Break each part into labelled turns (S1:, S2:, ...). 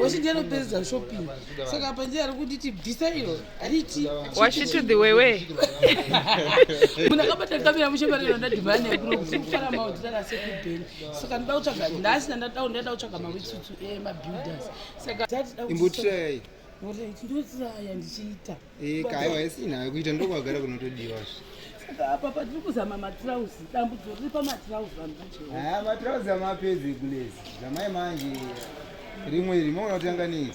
S1: Washi ndiye anopedza shopping. Saka apa ndiye ari kunditi bvisa iro ariti. Washi to the way
S2: way.
S1: Muna kabata kamera mushe bari ronda divane kuro kuti kufara mawo tara se ku ben. Saka ndoda kutsvaga ndasi nda down ndoda kutsvaga ma witsutu e eh, ma builders. Saka imbutira yayi.
S3: Ngoda ichi
S1: ndotsaya ndichiita. Eh, kaya waisi
S3: nayo kuita ndokwagara kunotodiwa zve. Saka apa
S1: patiri kuzama matirauzi, dambudzo riri pamatirauzi vanhu vacho. Ah, matirauzi amapedzi
S3: kulezi. Zamai manje rimwe iri maona kuti anga nei.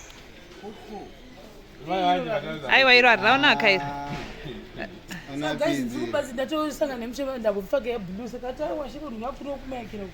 S2: aiwa iro hariraonaka iro
S1: Ana Guys, ndiri pezi. kubazi ndatosangana nemuchema ndakupfaka yebhulu saka tawa shiko ndinakuri okumaekera uku.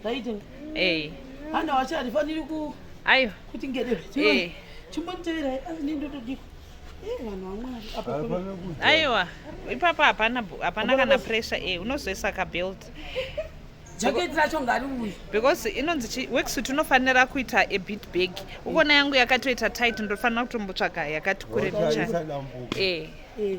S2: Ndaita.
S1: Eh. Hana wacha ndifaniri ku Ayo. Kuti ngede.
S2: Eh.
S1: Chimbonitevera asi ndindotodio. aiwa
S2: ipapa hapana hapana kana pressure e eh, unozoisa kabelt
S1: jacket racho ngari uyu because inonzi
S2: weksuit unofanira kuita a bit big ukona yangu yakatoita tight ndofanira kutombotsvaga yakati kure bicha e eh. eh.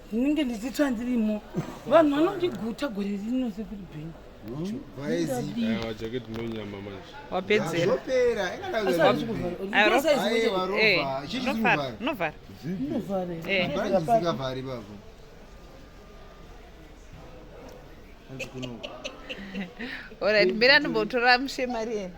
S3: ndinenge ndichitsva
S1: ndirimo vanhu vanondiguta gore rino sekuri bhengu
S2: orit mbira ndimbotora mushe mari yene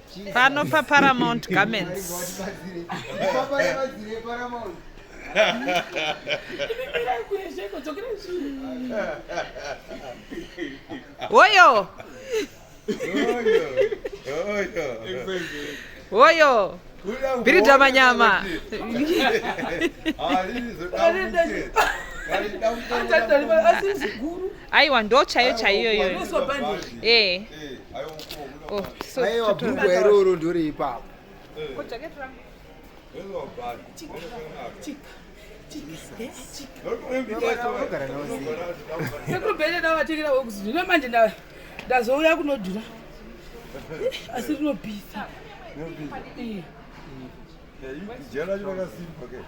S3: Pano pa
S2: Paramount Garments. Hoyo. Hoyo. Birita manyama. Ah, aiwa ndo chaiyo chaiyo iyoyo eh.
S3: oh, aiwa bhuku iroro ndori ipapo
S1: sekubhele ndavatekera wekuzi zvino manje ndazouya kunodhura asi rinobhisa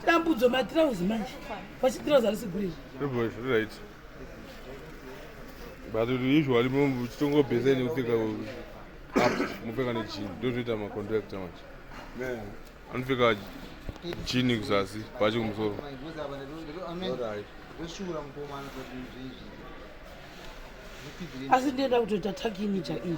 S1: dambudzo matirauzi manje vachitirauzi arisi guriri
S4: but usually muchitongobhesa nekupfeka up mupfeka nejini ndozvoita macontractor manje anopfeka jini kuzasi bhachi kumusoro
S1: asi ndienda kutoita takinija iyi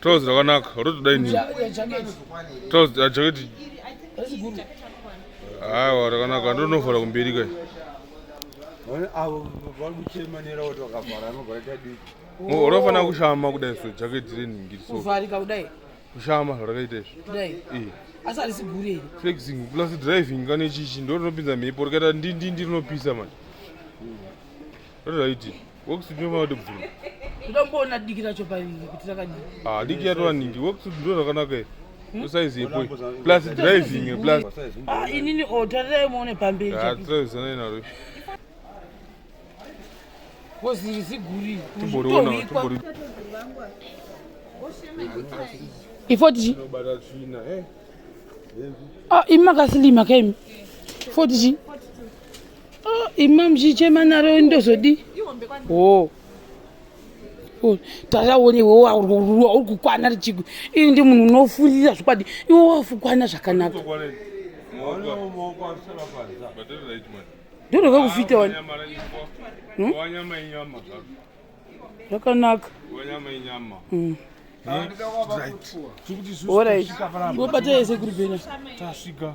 S1: Trouse rakanaka,
S4: rotoda ini.
S1: Trouse ah,
S4: jacket.
S1: Aiwa
S4: ah, rakanaka, ndonovhara kumberi kai.
S5: Avo vari kuchema nera kuti vakavhara anobva aita diki. Unofanira
S4: kushama kudai so jacket renhingiri so. Kuvharika kudai.
S1: Kushama zvakaita
S4: izvi. Kudai. Eh.
S1: Asi harisi gure iri. Flexing plus
S4: driving kana ichichi ndorinopinza mhepo rikaita ndindindi rinopisa manje. Hmm. Rotoda iti. wekusindioma kuti bvuru ndomboona
S1: diki racho paingi kuti rakadii ah diki yatova ningi
S4: wekuti ndo zvakanaka here hmm? usaizi yepo plus driving plus ah inini o oh,
S1: tarirai muone pamberi ah tiraizana inaro koziri ziguri timboriona timbori
S4: ifotiji eh. ah imi
S1: makasilima kaimi fotiji Oh, ima mchichema naro ndozodi oh. oh taraone iwe uri kukwana richiku ini ndi munhu unofurira zvikwadi iwe wafukwana zvakanaka ndorova kufita wani hmm? zvakanaka hmm. orit wobata yese kuri bena tasvika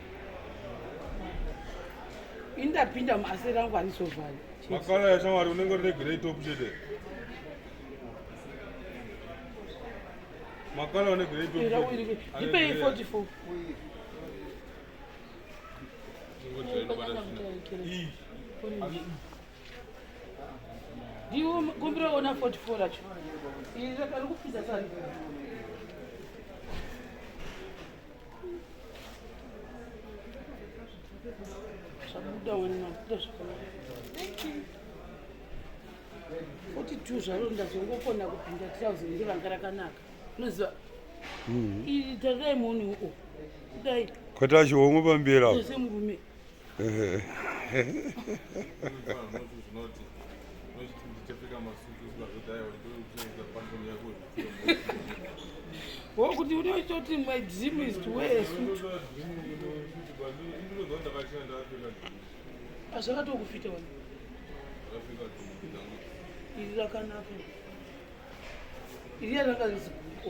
S1: indapinda muaseri angu anisovhari makala yashamwari
S4: unenge uregerei top chete makala unegerei top ndipei 44
S1: ndiwo kumbira ona 44 racho iri kupinda sari zvabuda wena mabuda zvakanaka thank you 42 zvaro ndazongokona kupinda trouser ndi vanga rakanaka unoziva mm-hmm. iri tarirai muone uko kudai kwata chihomwe
S5: pambira semurume
S1: wokuti unoitoti my dream is to wear a suit azvakatokufita wani iri rakanaka iri yarakaziguko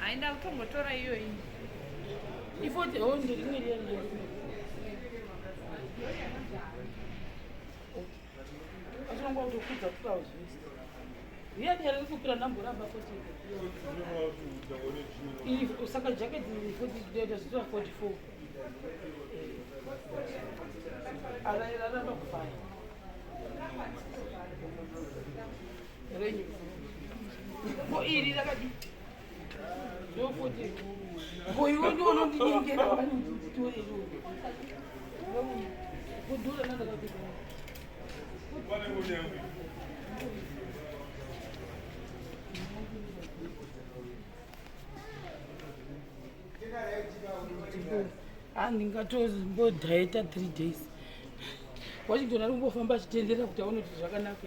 S2: Hayi ndakutongotora iyoyi.
S1: Ifote ho ndiri rimwe riya riya. Achirongwa kuti kudza kupa zvese. Riya riya riri kupira ndamboramba fote. Iyi saka jacket iyi fote inoita zvitwa 44. Ara iraramba kufaya. andingatozimbodaita three days washington ari kumbofamba achitenderera kuti aone kuti zvakanaka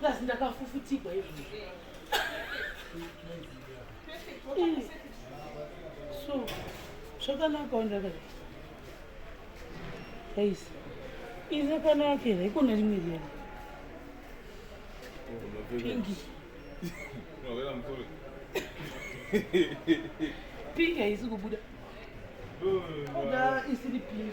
S1: plus ndakafufutigwa izvi so zvakanaka wandakati guys iri rakanaka here ikona rimwe riyana pingi pingi haisi kubuda oda isiri pingi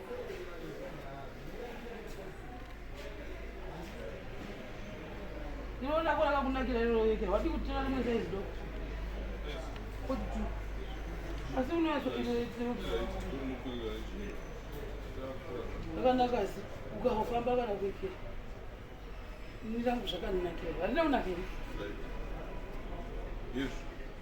S1: Unoona kwa akakunakira lero yeke. Wadi kutira rimwe size doko. Kuti tu. Asi unoyaso ile tsiro. Akanaka asi ukafamba kana kweke. Nirangu zvakaninakira. Handina unakira. Yes.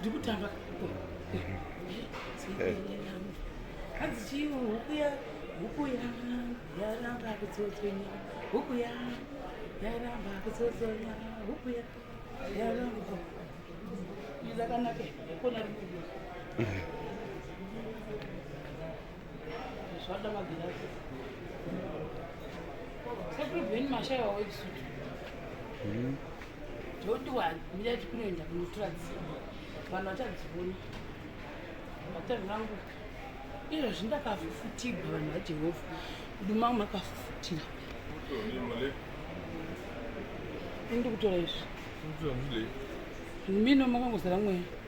S1: ndikutamba hanzi chii huku ya huku ya yaramba kutsotsonya huku ya yaramba kutsotsonya huku ya yaramba izakanake kona rimwe Zvada magirazi. Sekuru Beni Mashaya wekusutu. Mhm. Toti wa mira tikunoenda kunotura dziva. Vanhu vachadziona. Vatani vangu. Iro zvindakafufutigwa vanhu vaJehovha. Kuduma makafufutira. Indi kutora izvi. Mino makangozara mweya.